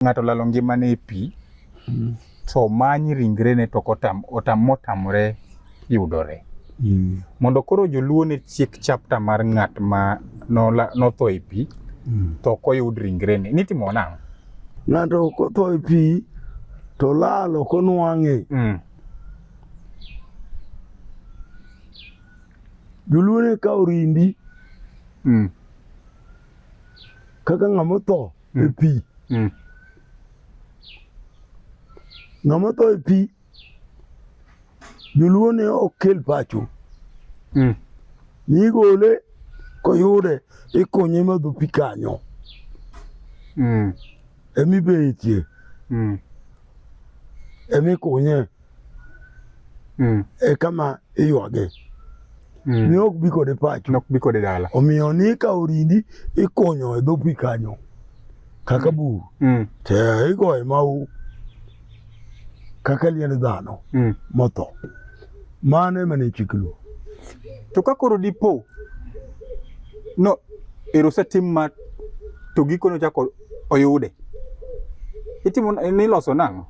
ng'ato lalo ngimane e pi mm. to manyi ringrene to motamore yudore mm. mondo koro joluo ne chiek chapta mar ng'at ma notho e pi mm. to ok oyud ringrene nitimo nang'o ng'ato kotho e pi to lal ok onwang'e mm. joluo ne kawo rindi mm. kaka ng'ama otho e pi. Mm. Ng'ama tho e pi, joluo ne ok kel pacho. Mm. Nigole koyude ikonye madho pi kanyo. Mm. Emibetie. Mm. Emikunye mm. e kama iywage mm. ni ok bi kode pacho nok bi kode dala omiyo ni ka orindi ikonyo e dho pi kanyo kaka mm. bur mm. te igoye mau kaka liend dhano mm. motho mano ema ne chik luo to ka koro dipo no ero osetim ma to gikone ochako oyude itimo niloso nang'o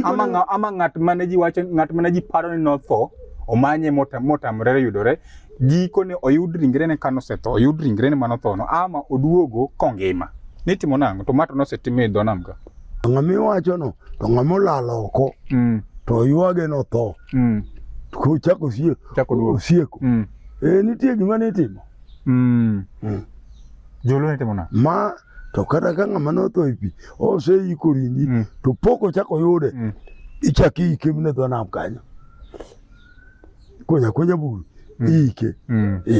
ama, nga, ama ng'at mane ji wacho ng'at mane ji paro ni notho omanye motamore yudore gikone oyud ringrene ka nosetho oyud ringrene ma nothono ama oduogo kongima nitimo nang'o to mato nosetim e dho nam ka ng'a miwachono to ng'a molal oko mm. to ywage notho mm. kochako osieko mm. e nitie gima nitimo mm. mm. joluo nitimo nang'o ma to kata ka ng'ama notho e pi oseiko ringi mm. to pok ochako oyude mm. ichak iike mine dho nam kanyo konya konya buru mm. iike mm. e.